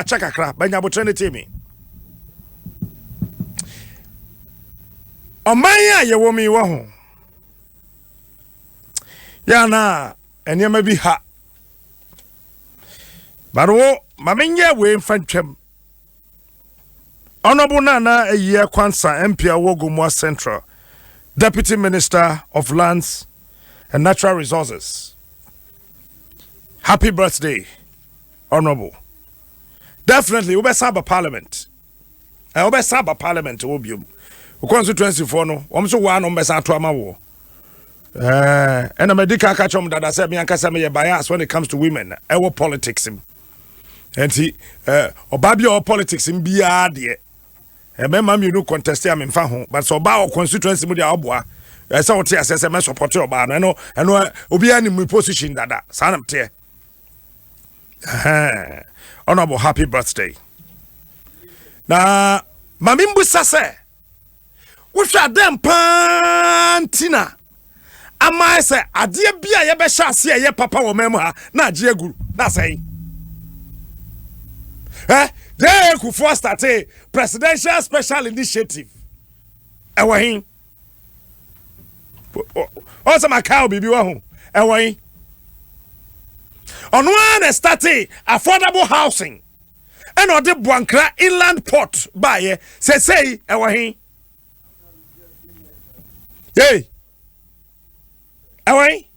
ɛkyɛ kakra bɛnya abotrɛ ne tee me ɔman a yɛwɔ mi wɔ ho yɛ anaa nneɛma bi ha baro wo ma menyɛ wei mfa ntwam ɔnɔbo no ana ayie kwansa mpia wɔ gomoa central deputy minister of lands and natural resources happy birthday Honourable, definitely wobɛsan aba parliament ɛ wobɛsan aba parliament wɔ biom wo constituency foɔ no wɔn nso wɔa na wɔn bɛsan ato ama woɔ ɛɛ ɛna mɛ di ka aka kyɛm dada sɛ mi ankasa mi yɛ bias when it comes to women ɛwɔ politics mu nti ɛɛ ɔbaa bi a ɔwɔ politics mu biara deɛ ɛmɛɛma mmienu contest a mi nfa ho but sɛ ɔbaa wɔ constituency mu deɛ ɔboa ɛsɛ ɔte asɛ sɛ mɛ support ɔbaa no ɛno ɛno obiara ni mu position dada saa na teɛ. honorable happy birthday na maame mbusa sɛ wohwɛ adɛn paa nti na ama sɛ adeɛ bi a yɛbɛhyɛ ase a ɛyɛ papa wɔ mɛm ha na agye aguru na asɛe ɛ dɛɛ kufoɔ state presidential special initiative ɛwɔ he ɔn sɛ makae biribi wɔ ho ɛwɔ yi ɔno ara na ɛstate affordable housing ɛna ɔde boankra inland port baayɛ sɛsɛi ɛwɔ he ei ɛwɔ he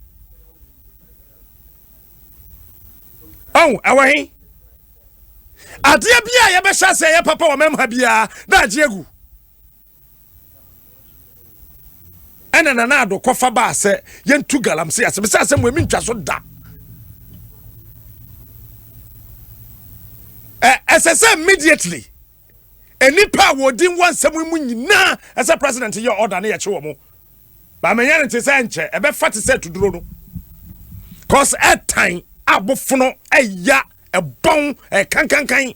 ɔn ɛwɔ he adeɛ bi a yɛbɛhyɛ sɛ yɛ papa wɔ mɛmha biara na agye agu ɛna nana ado kɔfa baa sɛ yɛntu galamsey ase mesɛ asɛm wei mentwa so da ɛsɛ sɛ immediately nnipa a wɔdi wɔ nsɛm mu nyinaa ɛsɛ president yɛ order ne yɛkye wɔ mo baamɛnyɛ no te sɛ nkyɛ ɛbɛfa te sɛ tuduro no cause ɛtan abofono ɛya ɛbɔn ɛkankankan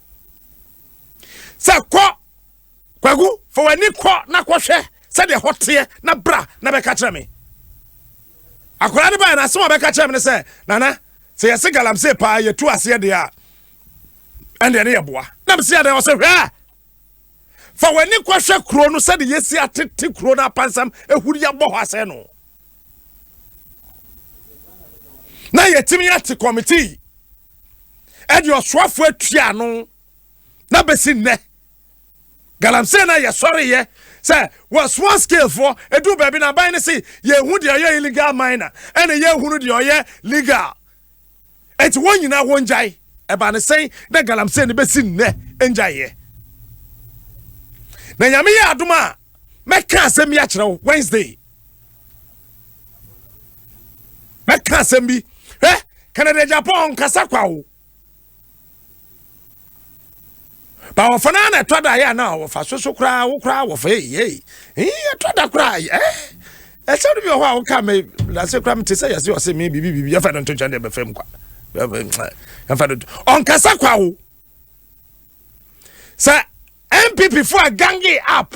sɛ kɔ kwaku fa w'ani kɔ na kɔhwɛ sɛdeɛ hɔ teɛ na bra na bɛka kyerɛ me akwadaa no baeɛ no asɛm a bɛka kyerɛ me no sɛ nana sɛ yɛse galamsey paa yɛtu aseɛ deɛ a ɛndeɛ ne yɛboa na mesi adɛn ɔsɛ hwɛ fa w'ani kɔhwɛ kuro no sɛde yɛsi atete kuro no apansam ɛhuri yɛabɔ hɔ asɛ no na yɛtumi ate kɔmitii ɛde ɔsoafoɔ atua ano na bɛsi nnɛ galamsey na yɛsɔreyɛ sɛ wɔ small scale foɔ ɛduru baabi na aban no se yɛhu deɛ ɔyɛ illegal miner ɛna yɛhunu deɛ ɔyɛ legal ɛnti wɔn nyinaa wɔn gyae ɛba ne sɛn na galamsey no bɛsi nnɛ ngyaeɛ na nyame yɛ adom a mɛka asɛm yi akyerɛ wo wednesday mɛka asɛm bi hwɛ canada japan nkasa kwa o ba wɔfa no na ɛtɔ da yɛ na wɔfa so so koraa wo koraa wɔfa ei ɛtɔ da koraa ɛ ɛsɛ no bi wɔ hɔ a woka me lase koraa mete sɛ yɛse ɔse me biribi biribi yɛfa no nto kyɛn deɛ bɛfam kwa yɛfa no ɔnkasa kwa o sɛ mpp fo a gange up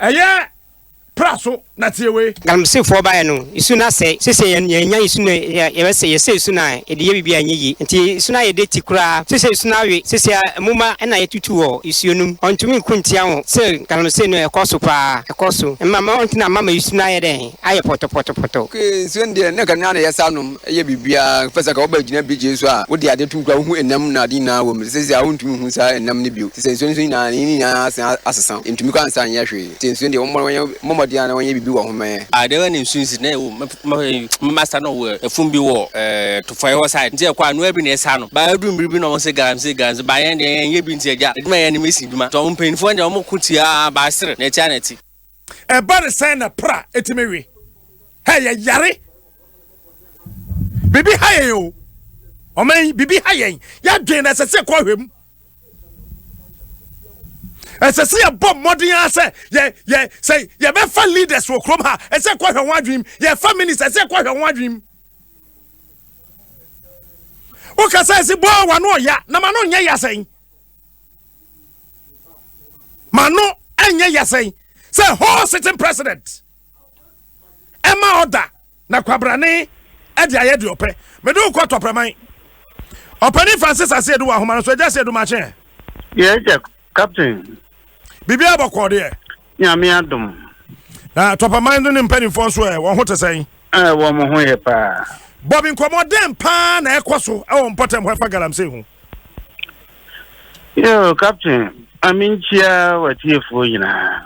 Ɛyɛ pra so na tie wei. Galamseyfoɔ baeɛ no, nsuo no asɛe. Seesei yɛn, yɛanya nsuo no a yɛbɛsɛ, yɛsɛe nsuo no a yɛde yɛ biribi a ɛnyɛ yie. Enti nsuo no ayɛ dɛti koraa. Seesei nsuo no awe. Seesei ara moma na yɛatutu wɔ nsuo no mu. Wɔntumi nko ntia ho. Sɛ galamsey no, ɛkɔ so paa. Ɛkɔ so. Mma, mma wɔntena mma ma nsuo no ayɛ dɛn? ayɛ pɔtɔpɔtɔpɔtɔ. Ok nsuo no deɛ na ɛka no ara na yɛsa nom yɛ biribiara in fact sɛ anka wo ba gyina beach nso a wode adeɛ tom koraa wohu ɛnam no adeɛ nyinaa wɔ mu te sɛ seisei a wontumi nhu saa ɛnam no bio te sɛ nsuo no nso nyinaa ne nyinaa asan asesa ɛntumi koraa nsa nyɛ hwee nti nsuo no deɛ wɔmmɔ wɔnyɛ wɔmmɔ mmɔden ara na wɔnyɛ biribi wɔ ho mmɛyɛ Ah dɛn ara na nsuo no si na ɛwɔ mu mɛf mɛf ɛyi mɛsa no wɔ ɛfum bi wɔ ɛɛ Tofɔɛ hɔ side nti ɛkɔ a noa bi na ɛsa no but ɛduru mmere bi na wɔn se galamsey galamsey but yɛn deɛ yɛn nyɛ bi nti agya adwuma a yɛyɛ no mesi adwuma nti wɔn mpaninfoɔ no deɛ wɔn ko tia aa but ɛsere na ɛte a na ɛte. ɛba ne sɛn na pra ɛtumi we hɛ yɛyare biribi ha yɛn o ɔman yi biribi ha yɛn yɛadwen na ɛsɛ sɛ ɛkɔ ahwɛ mu ɛsɛ sɛ yɛbɔ mmɔden a sɛ yɛ yɛ sɛ yɛbɛfa leaders wɔ kurom ha ɛsɛ ɛkɔ ahwɛ ho adwenem yɛfa minister ɛsɛ ɛkɔ ahwɛ ho adwenem wokasa ɛsi bɔɔ wano ɔya na ma no nyɛ yasɛn ma no ɛnyɛ yasɛn sɛ whole sitting president ɛma ɔda na kwabrane ɛde ayɛ deɛ ɔpɛ mede wo kɔ tɔprɛman ɔpɛne francis aseɛ de wɔ ahoma no so agya aseɛ do makyɛ yɛagya captain biribiaa bɔkɔɔ deɛ Nyame adom. Na Tɔpaman no ne mpanimfoɔ nso ɛ, wɔn ho te sɛn? Ɛ, wɔn ho yɛ paa. Bob, nkɔmmɔdɛn paa na ɛkɔ so wɔ mpɔtam hɔ ɛfa galamsey ho? Yo, Captain, ma menkyia w'atiefoɔ nyinaa.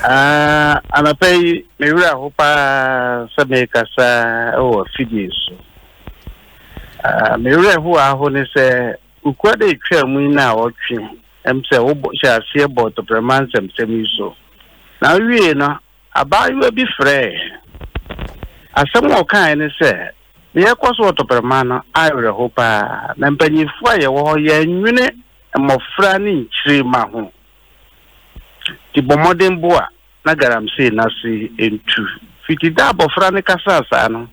Ah, anɔpa yi, me werɛ aho paa sɛ merekasa wɔ afidie so. Ah, me werɛ ho aho ne sɛ Kokoa da a etwaa mu yi na ɔtwe m sɛ wohyɛ aseɛ bɔ tɔprɛma nsɛmsɛm yi so. Na wowiei no, abaayewa bi frɛɛ. Asɛm a ɔkaeɛ ne sɛ, Deɛ ɛrekɔ so wɔ tɔprɛma no ayɛ awerɛhow paa, na mpanyimfoɔ a yɛwɔ hɔ yɛnnwene mmɔfra ne nkyirimma ho. Nti bɔ mmɔden boa na galamsey no ase ntu. Fiti da a abɔfra no kasaa saa no,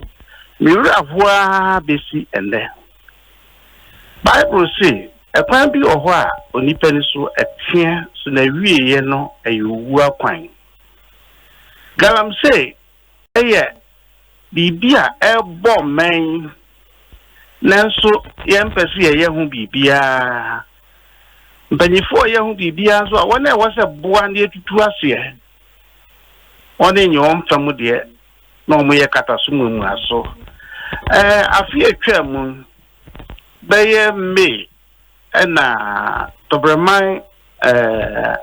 me werɛ ahow ara besi ɛnnɛ. Bible se, Ɛkwan bi wɔ hɔ a onipa ani so teɛ so na awieeɛ no yɛ owu akwan. Galamsey yɛ biribi a ɛrebɔ mmɛn, nanso yɛmpɛ sɛ yɛyɛ ho biribiara. Mpanyinfoɔ a yɛ ho biribiara nso a wɔn a ɛwɔ sɛ boa na yɛtutu aseɛ wɔn nyɛ wɔn fam deɛ na wɔyɛ kataso mmuamuaso. Ɛɛ, afe a etwaa mu no, bɛyɛ May na Tɔbrɛman ɛɛ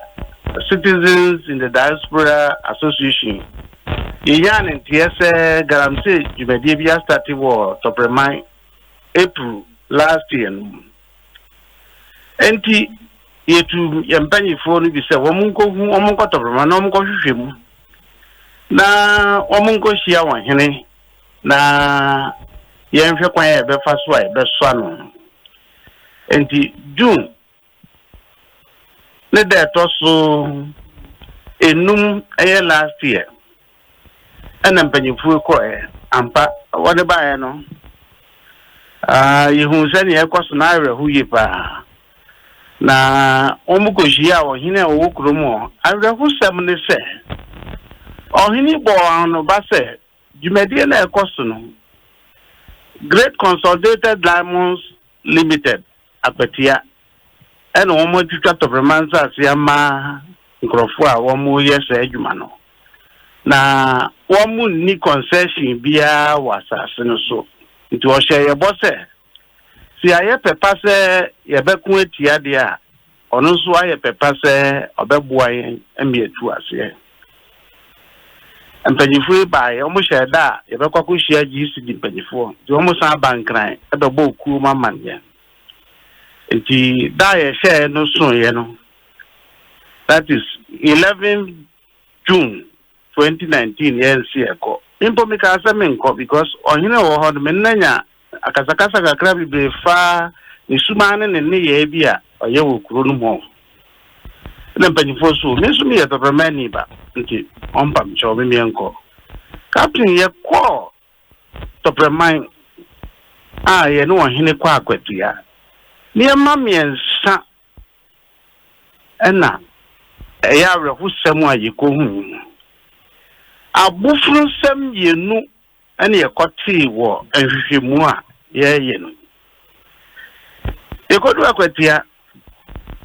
Citizens in the Diaspora Association yɛnyaa ne nteɛ sɛ galamsey dwumadie bi astate wɔ Tɔbrɛman April last year no mu. Enti yɛtu yɛn mpanimfoɔ no bi sɛ wɔn nkɔhu wɔn nkɔ Tɔbrɛman na wɔn nkɔhwehwɛ mu. na wɔnkɔhyia ɔhene na yɛnhwɛ kwan a yɛbɛfa so a yɛbɛsoa no. Enti June ne da ɛtɔ so enum ɛyɛ last year ɛna mpanyinfoɔ kɔɛ ampa wɔde baeɛ no yɛhuu sɛdeɛ ɛkɔ so na awerɛho yie paa. na wɔkohyiaa ɔhene a ɔwɔ kurom hɔ. Awerɛhosɛm ne sɛ, ɔhene bɔɔ anoba sɛ dwumadie no a ɛkɔ so no, Great Consolidated Diamonds Limited, Akwatia, na wɔatwitwa tɔframa nsase ama nkurɔfoɔ a wɔreyɛ saa adwuma no, na wɔnni concession biara wɔ asase no so. Nti ɔhyɛɛ yɛn bɔ sɛ. Sɛ yɛayɛ pɛ pa sɛ yɛbɛko atia deɛ a, ɔno nso ayɛ pɛ pa sɛ ɔbɛboa yɛn ma yɛatu aseɛ. Mpanyinfoɔ yi baeɛ, wɔhyɛɛ da a yɛbɛkɔ akɔhyia GCD mpanyinfoɔ, nti wɔsan aba Nkran bɛbɔɔ kuo mu amanneɛ. Nti da a yɛhyɛɛ no soeɛ no, that is 11 June twenty nineteen yɛn se yɛ kɔ me mpo me kaa sɛ me nkɔ because ɔhene wɔ hɔ no me nna nya akasakasa kakra bebree faa ne sumaa ne ne nneyɛɛ bi a ɔyɛ wɔ kuro no mu hɔ na mpanyinfoɔ so me nso me yɛ tɔprɛmɛ ni ba nti ɔmpa me kyɛw me meɛ nkɔ captain yɛ kɔ tɔprɛman a yɛ ne ɔhene kɔ akwatua nneɛma mmiɛnsa Ɛnna ɛyɛ awerɛhosɛm a yekohui no mu. Abofunsɛm mmienu na yɛkɔtee wɔ nhwehwɛmu a yɛreyɛ no mu. Yekoduu Akwatia,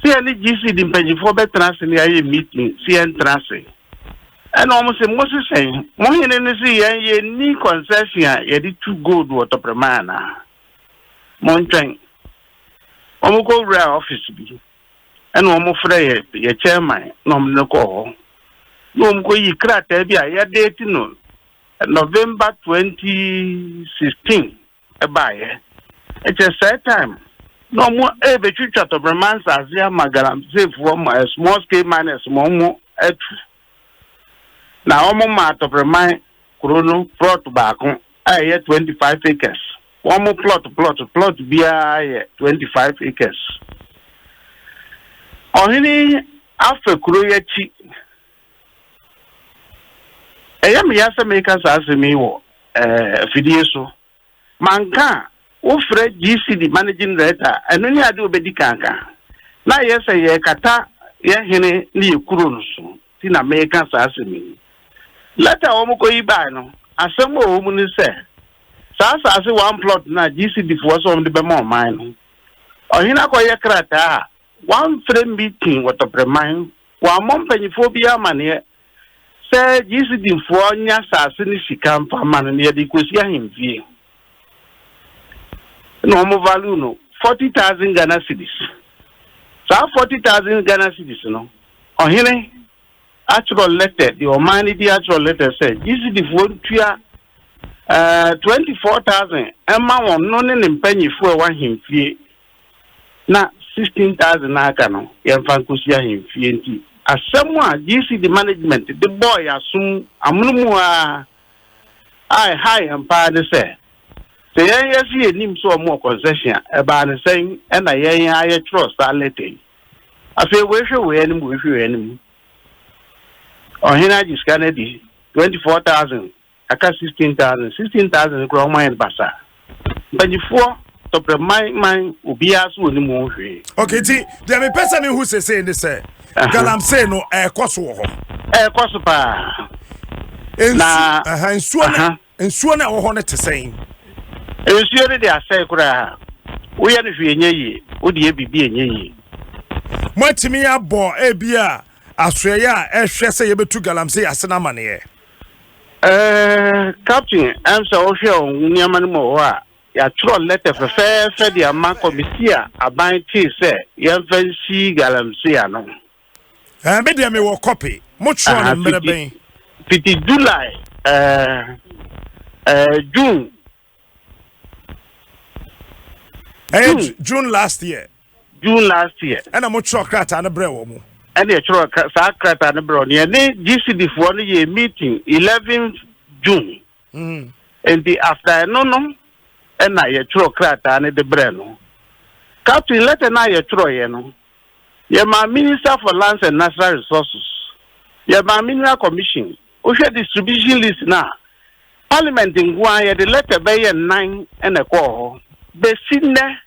sɛ yɛne GCD mpanimfoɔ bɛtena ase na yɛayɛ meeting sɛ yɛntena ase. Ɛnna wɔn se, Mose sɛn? Mo hene no se yɛn yenni concession a yɛde tu gold wɔ Tɔprɛman anaa? montwɛn. Wɔkɔwuraa ɔfese bi, ɛna wɔfrɛ yɛ yɛ chairman na wɔde no kɔɔ hɔ, na wɔkɔyii krataa bi a yɛdeeti no November 2016 baeɛ. Ɛkyɛ saa time na wɔrebɛtwitwa tɔbrɛma nsase ama galamseyfoɔ ma small scale miners ma wɔatu. na wɔmaa Atɔpreman kuro no plɔt baako a ɛyɛ twenty five acres. Wɔn plɔt plɔt plɔt biara yɛ twenty five acres. Ɔhene afa kuro yi akyi. Ɛyɛ me ya sɛ meka saa asɛm yi wɔ afidie so. manka a, wofrɛ GCD Managing Director a, ɛno ne ade a obedi kan aka. Na ayɛ sɛ yɛrekata yɛn hene ne yɛn kuro no so nti na mereka saa asɛm yi. Lɛta a wɔkɔyi bae no, asɛm a ɛwɔ mu ne sɛ, saa asase one plot no a GCD foɔ sɛ wɔde bɛma ɔman no, ɔhene akɔyɛ krataa a wamfrɛ meeting wɔ Tɔprɛman, wammɔ mpanimfoɔ biara amanneɛ, Sɛ Gyesidifoɔ nyɛ asase ne sika mfa mma no na yɛde rekɔsi ahemfie na wɔn value no forty thousand Ghana cedis saa forty thousand Ghana cedis no ɔhene atwerɛ lɛtɛ deɛ ɔman no di atwerɛ lɛtɛ sɛ Gyesidifoɔ ntua eh, twenty four thousand ɛma wɔn no ne ne mpanyifoɔ ɛwɔ ahemfie na sixteen thousand a aka no yɛmfa nkɔsi ahemfie nti asɛm a GCD management de bɔɔ yɛn asom amonomu ara a ɛhaa yɛn paa ne sɛ sɛ yɛn yɛse yɛnim sɛ wɔn wɔ concession a ɛbaa ne sɛn ɛna yɛn ara yɛtwerɛ saa leta yi afei wei hwɛ wei anim wei hwɛ wei anim ɔhene agye sika no adi twenty four thousand Aka sixteen thousand, sixteen thousand no koraa wɔn ayɛ no basaa. Mpanyifoɔ tɔprɛ man man obiara so wɔ ne mu hwee. Okay, ti deɛ mi pɛ sɛ mi hu sese ne sɛ galamsey no ɛɛkɔ so wɔ hɔ. Ɛɛkɔ so paa. Na nsuo no nsuo no ɛwɔ hɔ no te sɛn? Nsuo no de asɛe koraa. Woyɛ no hwee nyɛ yie, wode yɛ biribi nyɛ yie. Moatumi abɔ ebi a asoɛyɛ a ɛhwɛ sɛ yɛbɛtu galamsey ase no amaneɛ? Ɛɛ, Captain, ɛm sɛ wohwɛ wo nneɛma no mu wɔ hɔ a, yɛatwerɛ lɛtɛ fɛfɛɛfɛ de ama kɔmisi a aban tee sɛ yɛmfa nsi galamsey ano. Ɛɛ, me deɛ mewɔ kɔpe. Motwerɛ no mmerɛ bɛn? Fiti July, ɛɛ, ɛɛ, June ɛyɛ June. june last year june last year ɛna mo twerɛ krataa no brɛ wɔ mo ɛne ɛtwerɛ kra- saa krataa no berɛ ɔne ɛne gcd foɔ no yɛ meeting 11 june Mhm. nti after ɛno no ɛna yɛtwerɛ krataa no de berɛ no captain letter no a yɛtwerɛeɛ no yɛmaa minister for lands and natural resources yɛmaa mineral commission Wohwɛ distribution list no a, Parliament nko ara yɛde letter bɛyɛ nnan na ɛkɔɔ hɔ. Besi nnɛ,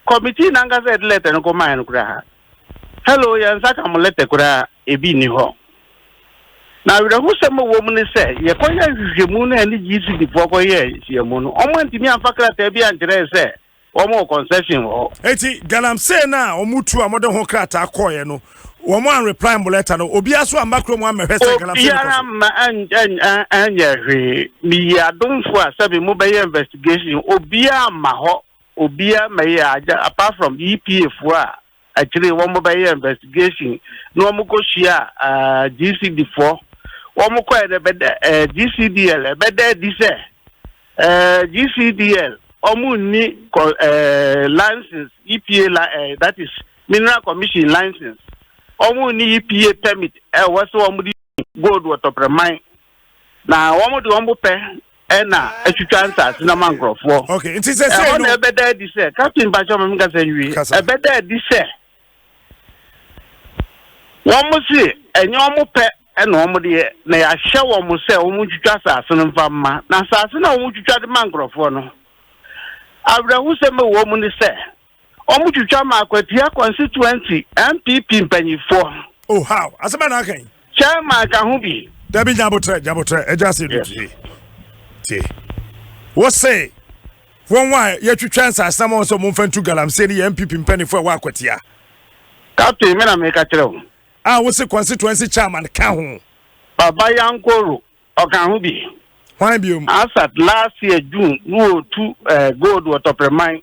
committee no ankasa a yɛde letter no kɔmaeɛ no koraa, hello, yɛn nsa ka mo letter koraa, ebi nni hɔ. Na awerɛhosɛm a ɛwɔ mu ne sɛ, yɛkɔyɛɛ nhwehwɛmu no a ɛne GCD foɔ kɔyɛɛ nhyiamu no, wɔantumi amfa krataa bi ankyerɛ yɛn sɛ Wɔn wɔ concession wɔ hɔ. Enti galamsey no a wɔn tu a wɔn de ho krataa kɔɔɛ no, wɔn an reply mo letter no, obiara so amma kuro mu ammɛhwɛ sɛ galamsey no kɔ so. Obiara amma anyɛ hwee. Me yi adomfo a sɛbi mo bɛyɛ investigation, obiara amma hɔ, obiara mmɛyɛ, apart from EPA foɔ a Akyire yi wɔbɛyɛɛ investigation na wɔkɔhyiaa GCD foɔ. Wɔkɔɛ no ɛbɛda GCDL ɛbɛda adi sɛ GCDL wɔnni license EPA that is mineral commission license. Wɔnni EPA permit ɛwɔ sɛ wɔde gold wɔ Tɔprɛman na wɔn de wɔn bo pɛ ɛna atwitwa nsaase na ma nkurɔfoɔ okay nti sɛ sɛ ɛhɔ na ɛbɛda adi sɛ captain bakyɛ wɔn nkasa nwie ɛbɛda adi sɛ wɔn si ɛnyɛ wɔn pɛ ɛna wɔn de yɛ na yɛahyɛ wɔn sɛ wɔn ntwitwa asaase no mfa mma na asaase na wɔn twitwa de ma nkurɔfoɔ no awerɛhosɛm ɛwɔ mu ne sɛ. wɔtwitwa maa Kwatia constituency NPP mpanyinfoɔ. Oh how? Asɛm bɛn na aka yi? Chairman ka ho bi. Dabi nyabotrɛ nyabotrɛ ɛgya ase no tie tie. Wose wɔn a yɛtwitwa nsase ma wɔn sɛ wɔn mfa ntu galamsey no yɛ NPP mpanyinfoɔ ɛwɔ Akwatia. Captain mi na mi ka kyerɛ o. A wose constituency chairman ka ho. Baba Yankoro ɔka ho bi. Hwan biom? Asat last year June no otu eh, gold wɔ Tɔprɛman.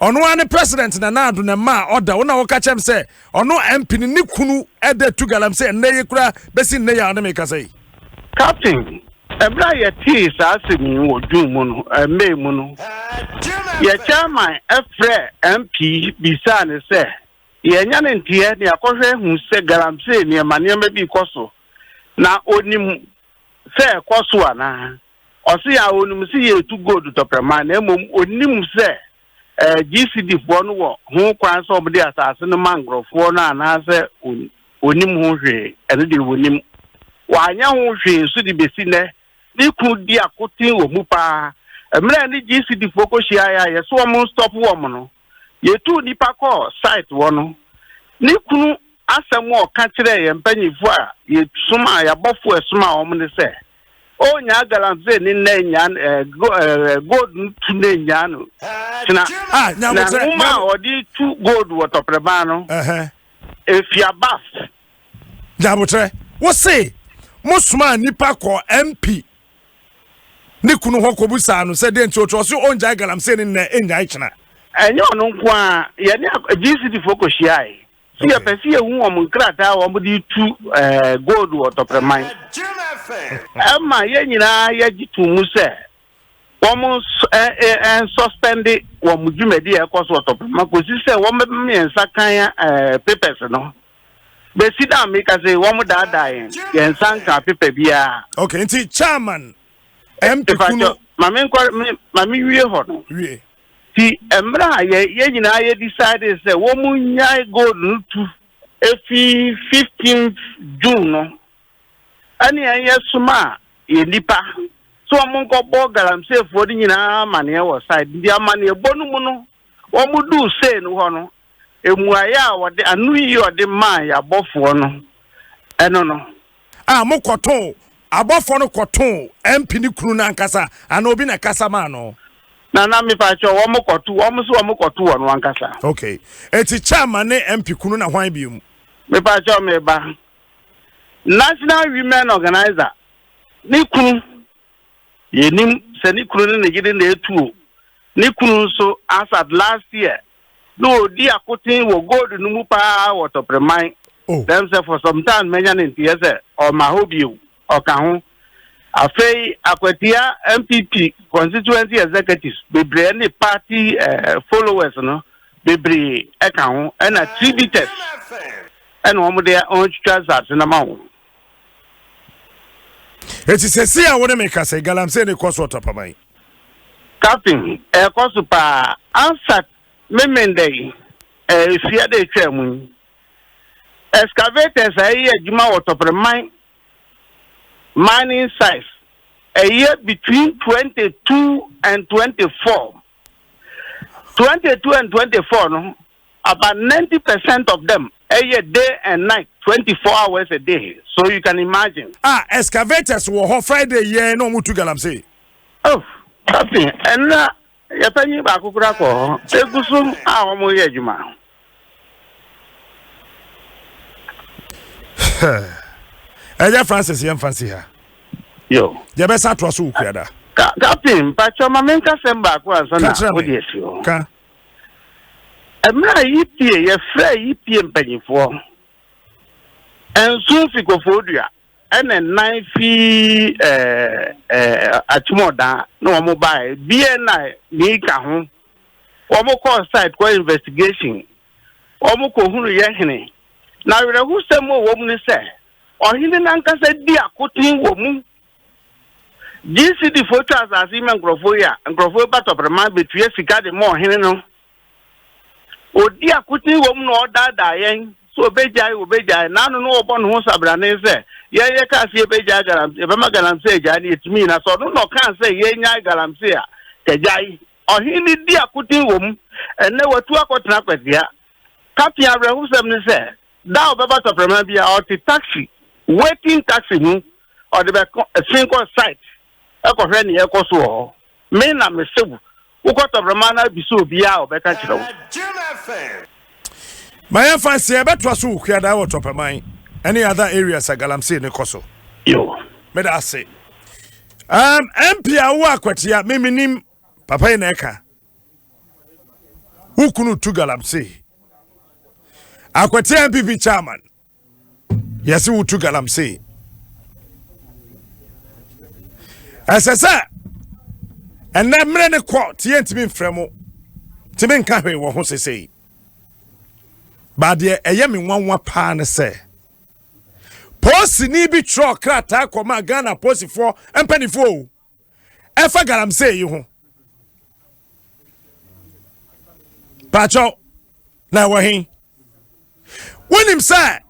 ɔno ara ne president Nana Addo na ɛmaa ɔda wo na woka kyɛm sɛ ɔno MP ne ne kunu ɛda tu galam sɛ ɛnnɛ yi koraa bɛsi nnɛ yi a ɔne me kasa yi. Captain, ɛberɛ a yɛtee saa asɛm yi wɔ June mu no, eh, May mu no, yɛ chairman frɛ MP bisaa ne sɛ yɛanya ne nteɛ ne akɔhwɛ ahu sɛ galamsey nneɛma nneɛma bi kɔ so na onim sɛ ɛkɔ so anaa. Ɔse a onim se yɛretu gold tɔprɛma na mmom onim sɛ GCDfoɔ no wɔ ho kwan sɛ wɔde asase no ma nkorɔfoɔ no anaasɛ wɔnim ho hwee, ɛno deɛ wɔnim. Wɔanyɛ ho hwee nso de bɛsi nnɛ. Ne kunu di akoten wɔ mu paa. Mmerɛ a ne GCDfoɔ kɔhyiaeɛ a yɛse wɔn nstop wɔn no, Yetuu nnipa kɔɔ Site hɔ no, ne kunu asɛm a ɔka kyerɛɛ yɛn mpanyimfo a yɛsomaa yɛn abɔfo a ɛsomaa wɔn ne sɛ, Oh, nyaa galamsey ne nnɛ nyaa no, eh, go, eh, gold no tu nnɛ nyaa no kyena. Ah, nyaa Na mo kyerɛ, nwoma nyaa a mo. ɔde tu gold wɔ tɔprɛban no, Ɛhɛ. efi abaf. Nyabotrɛ, wo se mo somaa nnipa kɔɔ MP ne kunu hɔ kɔbisaa no sɛ dɛn nti ɔkyerɛ ɔse ɔngyae galamsey no nnɛ nnyae kyena. Ɛnyɛ ɔno nko a, yɛne GCD foɔ kɔhyiae. So yɛpɛ sɛ yɛhu wɔn nkrataa a wɔde retu gold wɔ Tɔprɛman. Ɛma yɛn nyinaa yɛgye too mu sɛ wɔnsuspɛnde wɔn dwumadi a ɛrekɔ so wɔ Tɔprɛman kɔsi sɛ wɔbɛma yɛn nsa kan papers no. besi da mi ka se wɔn daadaa yɛn yɛn nsa nka pepa biara. ok nti chairman mp kuno. maame nkɔ maame wie hɔ no. wie. ti mmerɛ a yɛ yɛ nyinaa yɛ decide sɛ wɔn mu nyae gold no tu efi fifteen june no ɛne yɛn yɛ soma yɛ nipa so wɔn nkɔ bɔ galamseefoɔ no nyinaa amaneɛ wɔ side nti amaneɛ bɔ no mu no. wɔduu Seir hɔ no, mmuaeɛ a wɔde, anoyie a wɔde maae abɔfoɔ no, ɛno no. A mokɔtoo, abɔfoɔ no kɔtoo MP no kunu no ankasa anaa obi na ɛkasa maa no? Na na mepakyɛw, wɔkɔto, wɔn nso wɔkɔto wɔn ankasa. Okay. Eti Chairman ne MP kunu na hwan biom? Mepakyɛw me ba. National Women Organizer ne kunu. Yɛnim sɛ ne kunu ne ne yere na ɛtuo. Ne kunu nso, Asad, last year na ɔredi akoten wɔ gold no mu paa wɔ Topreman. Oh. Dɛm sɛ for some time manya ne nteyɛ sɛ ɔmma hɔ bio. Ɔka ho. Afei Akwatia NPP constituency executives bebree ne party eh, followers no bebree ɛka ho ɛna tributers ɛna wɔn de wɔn twitwa nsase no ma wɔn. Eti sɛsei a wo ne me kasa yi, galamsey no kɔ so ɔtapaban. Captain, ɛkɔ so paa. Ansat Memenda yi, ɛresua dɛ etwaa mu yi, excavators a ɛyɛ adwuma wɔ Tɔpreman mining sites, ɛyɛ between twenty two and twenty four. Twenty two and twenty four no, About ninety percent of them ɛyɛ day and night twenty four hours a day so you can imagine. Ah excavators wɔ hɔ Friday yɛɛ na ɔmo tu galamsey. Oh captain ɛnna yɛ panyin baako kura kɔ hɔ egu so a ɔmo yɛ adwuma. Ɛyɛ Francis yɛn fa nsi ha. Yo. Yɛ bɛ sa to aso wɔ kuada. Ka captain mpatsɔ ma mi nkasɛm baako ansa na o di esi o. Ka. Mmerɛ a Yipie, yɛfrɛɛ Yipie mpanyimfoɔ nson fi Koforidua ɛna nnan fi Akyemɔɔdan na wɔn baeɛ. Biɛ na mii ka ho. Wɔn kɔɔ site kɔ investigation. Wɔn kɔhunu yɛ hene. Na awerɛhosɛm wɔ wɔn mu ne sɛ, ɔhene no ankasa di akoten wɔ mu. GCD foɔ twa asase yi ma nkurɔfoɔ yi a, nkurɔfoɔ yi ba tɔprɛma bɛtua sika de ma ɔhene no. Ɔdi akoten wɔ mu na ɔdaadaa yɛn sɛ ɔbɛgyae ɔbɛgyae na ano no ɔbɔ ne ho sabrane sɛ yɛn yɛkaa sɛ yɛbɛgyae galamsey yɛbɛma galamsey agyae no yɛtumi nyina sɛ ɔno na ɔkaa sɛ yɛnyae galamsey a kagyae ɔhene no di akoten wɔ mu ɛnɛ watu akɔtena kwasia kapea awerɛhosɛm ne sɛ Da a ɔbɛba tɔprɛma bi a ɔte taxi, waiting taxi ho, ɔde bɛko ɛsen kɔ site ɛkɔhwɛ nea ɛkɔ so wɔ hɔ. Me na mese wo, wokɔ tɔprɛma no abisa obiara a ɔbɛka kyerɛ wo. Ma yɛmfa nse yɛbɛtoa so wɔ Kuadaa wɔ Tɔpɛman ɛne other areas a galamsey no kɔ so. Yo. Meda ase. Um, MP a wowɔ akwatia, me menim, papa yi na ɛka. Wo kunu tu galamsey. Akwete NPP chairman. Yɛse wo tu galamsey. Ɛsɛ sɛ ɛnɛ mmerɛ ne kɔ te yɛntumi mfrɛ mo tumi nka hwee wɔ ho sesei. Baadeɛ ɛyɛ me nwanwa paa ne sɛ polisini bi twerɛ krataa kɔma Ghana polisifoɔ mpanimfoɔ o. ɛfa galamsey yi ho pakyɛw na ɛwɔ he wonim sɛ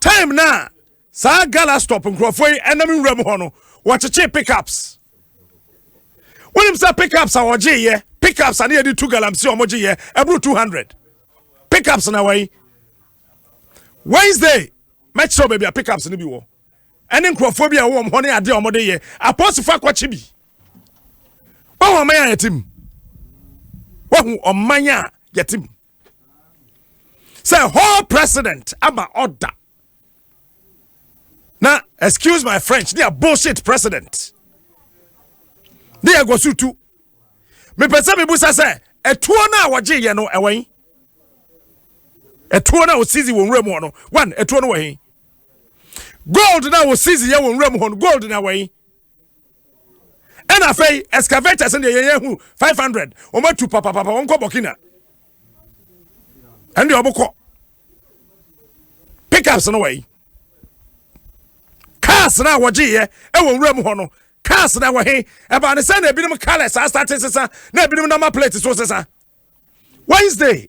time no a saa gala stop nkurɔfoɔ yi ɛnam nwura mu hɔ no wɔkyekyee pickups wonim sɛ pickups a wɔgyeeɛ pickups a ne yɛde tu galamsey a wɔgyeeɛ ɛboro 200 pickups na wɔyi wednesday mɛkyerɛw baabi a pickups no bi wɔ ɛne nkurɔfoɔ bi a wɔwɔ hɔ ne adeɛ a wɔde yɛ apɔsifo akɔkye bi wɔn ɔman a yɛte mu wɔn ɔman a yɛte mu sɛ hall president ama ɔda na excuse my french ne a bullshit president ne yɛ gɔso tu mepɛ sɛ mebusa sɛ ɛtuo no a wɔgye yɛ no ɛwɔ yi ɛtuo no a wɔsisi wɔn wura mu hɔ no one ɛtuo no wɔ yi. gold na wɔ season yɛ wɔ nwura mu hɔ no gold na wɔ yi ɛna afei excavators no deɛ yɛn yɛn hu five hundred wɔn atu papapapa wɔn kɔ burkina ɛn deɛ wɔn kɔ pickups no wɔ yi cars na wɔgye yɛ ɛwɔ nwura mu hɔ no cars na wɔ he ɛbaa ne sɛ na ebinom colours asate sesa na ebinom nama plate so sesa wednesday.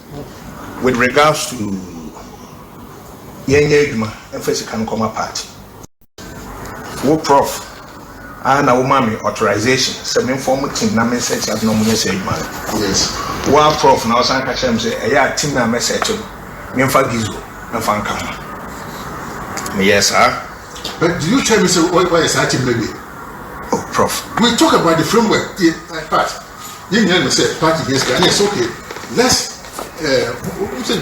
With regards to yɛnyɛ adwuma mfa sika no nkɔma party, wo prof ara na woma me authorization sɛ memfɔm team na mensɛte ade na wɔnyɛ saa adwuma no. Yes. Wo ara prof na wosan ka kyerɛ me sɛ ɛyɛ a team no a mɛsɛte no memfa Gizo mfa nka ho. Meyɛɛ saa. But did you tell me sɛ woayɛ saa team no awie? Oh prof. We talk about the framework part. yɛn nyinaa nim sɛ party hia sika ɛne ɛsɛ okay let's wonim sɛ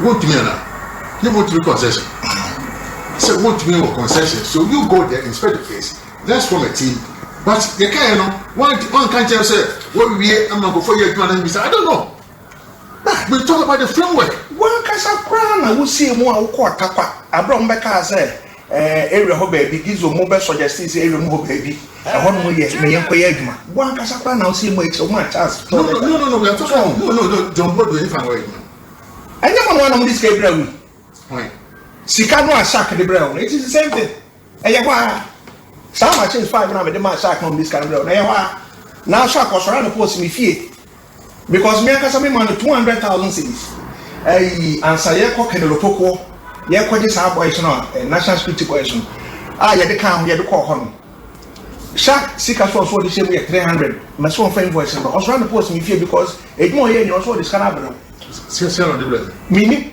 wontumi anaa ne wontumi concession sɛ wontumi wɔ concession so you go there inspect the place let's form a team but yɛkaeɛ no wanka nkyɛn sɛ wɔwie ama nkɔfoɔ yɛ adwuma no bisa i don't know but we talk about the framework wankasa koraa na wosii mu a wokɔ ɔtakwa aberɛ ɔmbɛkaa sɛ Ɛɛ area hɔ baabi diesel mo bɛ sɔgya still sɛ area mu hɔ baabi ɛhɔ nom yɛ ma yɛn kɔyɛ adwuma wo ankasa koraa na wo sɛ mu akyerɛ wo ma chance tɔ lɛta no no no yɛto so no no no John Bodo yɛ fa wɔ adwuma ɛnyɛ mo no anam de sika bira wi sika no a shark de bira wo no it is the same thing ɛyɛ hɔ a saa machines five na mede ma shark no de sika no bira wo na ɛyɛ hɔ a na shark ɔsɔre anɔpɔ ɔsi me fie because me ankasa me ma no two hundred thousand cedis ɛyi ansa yɛ kɔ kɛnɛrɛ pokoɔ yɛ kɔ gye saa boys no a eh, national security boys no a ah, yɛde kan ho yɛde kɔɔ hɔ no shark sika so ɔso ɔde hyɛ mu yɛ three hundred mɛ so ɔnfa invoice no ɔsoro ano post mi fie because edwuma ɔyɛ ni ɔso ɔde sika no abɛrɛ. sika sika na ɔde bɛrɛ. mi ni.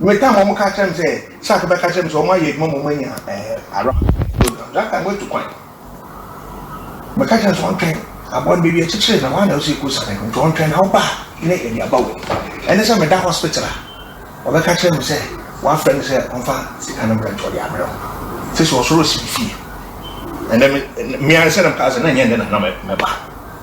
Me time wɔn ka kyerɛ me sɛ shark bɛka kyerɛ me sɛ wɔn ayɛ adwuma ma wɔn anya ɛɛ ara program that time wɔatu kwan me ka kyerɛ me sɛ wɔn twɛn aboa no bɛwi akyekyere na wɔn ana ɔsɛ kɔ sane nti wɔn twɛn na wɔba ne yɛde aba wɔ ɛne sɛ meda hospital a wɔbɛka kyerɛ me sɛ wɔafrɛ no sɛ ɔmfa sika no mbrɛ nti ɔde abrɛ wo sɛ sɛ ɔsoro ɔsi fie ɛnɛ me me ansa na me ka sɛ na nyɛ ɛnɛ na na mɛba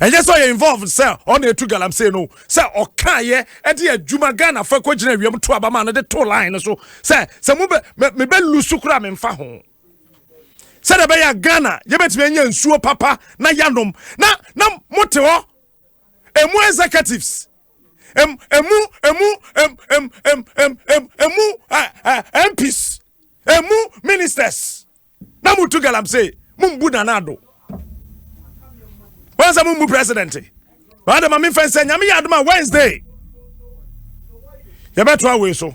ɛnyɛ sɛ ɔyɛ involved sɛ ɔna ɛtu galamsey no sɛ ɔkaeɛ ɛde adwuma ghana fo ɛkɔ gyina awiam to abama no de to line no so sɛ sɛ mo mebɛ lusu koraa memfa ho sɛdeɛ ɛbɛyɛ ghana yɛbɛtumi anya nsuo papa na yanom na na mote hɔ ɛmu executives ɛmu ɛmu ɛmu ɛmu ɛmu ɛmu ɛmu mps ɛmu ministers na motu galamsey mombu nana ado wɔn sɛ mombu president baa dɛ ma memfa nsɛ nyame yɛ adoma wednesday yɛbɛtoa wei so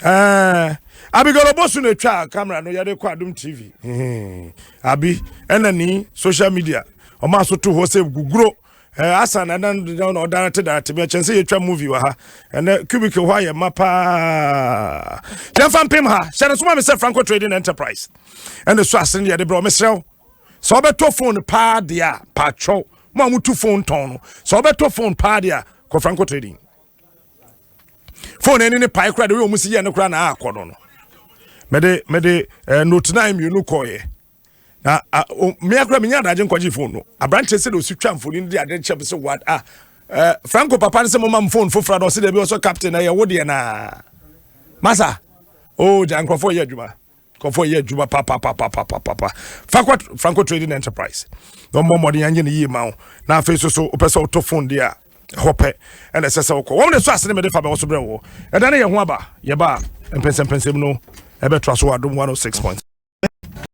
ɛɛ abigail obosu na etwa camera no yɛde kɔ adum tv abi ɛna ni social media ɔmo aso to hɔ sɛ guguro Eh, asa na na na ɔdara te dara te bi kyɛn sɛ yɛtwa movie wɔ ha ɛnɛ cubic hɔ ayɛ ma paa yɛmfa mpem ha hyɛ no soma me sɛ franco trading enterprise ɛne so ase ne yɛde berɛ ɔmeserɛ wo sɛ wobɛtɔ phone paa deɛ a paatwɛw mo a motu phone tɔn no sɛ wobɛtɔ phone paa deɛ a kɔ franco trading phone ɛne ne pae koraa de wei ɔmu si yɛ ne koraa na akɔ no no mede mede eh, note 9 mmienu kɔeɛ na a o me akora me nya adagye nkɔgye phone no aberanteɛ sɛ de osi twa mfoni no de ade kyɛ me sɛ what ah eh, franco papa no sɛ mo mam phone foforɔ na ɔsɛ dɛbi ɔsɔ captain na ɛyɛ wo deɛ naa masa o oh, gya nkurɔfoɔ yɛ adwuma nkurɔfoɔ yɛ adwuma papapapapapa fakɔ franco trading enterprise na ɔmmɔ mmɔden anyɛ ne yie ma wo na afei so so wopɛ sɛ wotɔ phone deɛ a ɛhɔ pɛ ɛna ɛsɛ sɛ wokɔ wɔn de so ase ne mede fa bɛwɔ so berɛ wɔ ɛda ne yɛ ho aba yɛba mpɛnsɛmpɛnsɛm no ɛbɛtoa so wɔ adom 106 point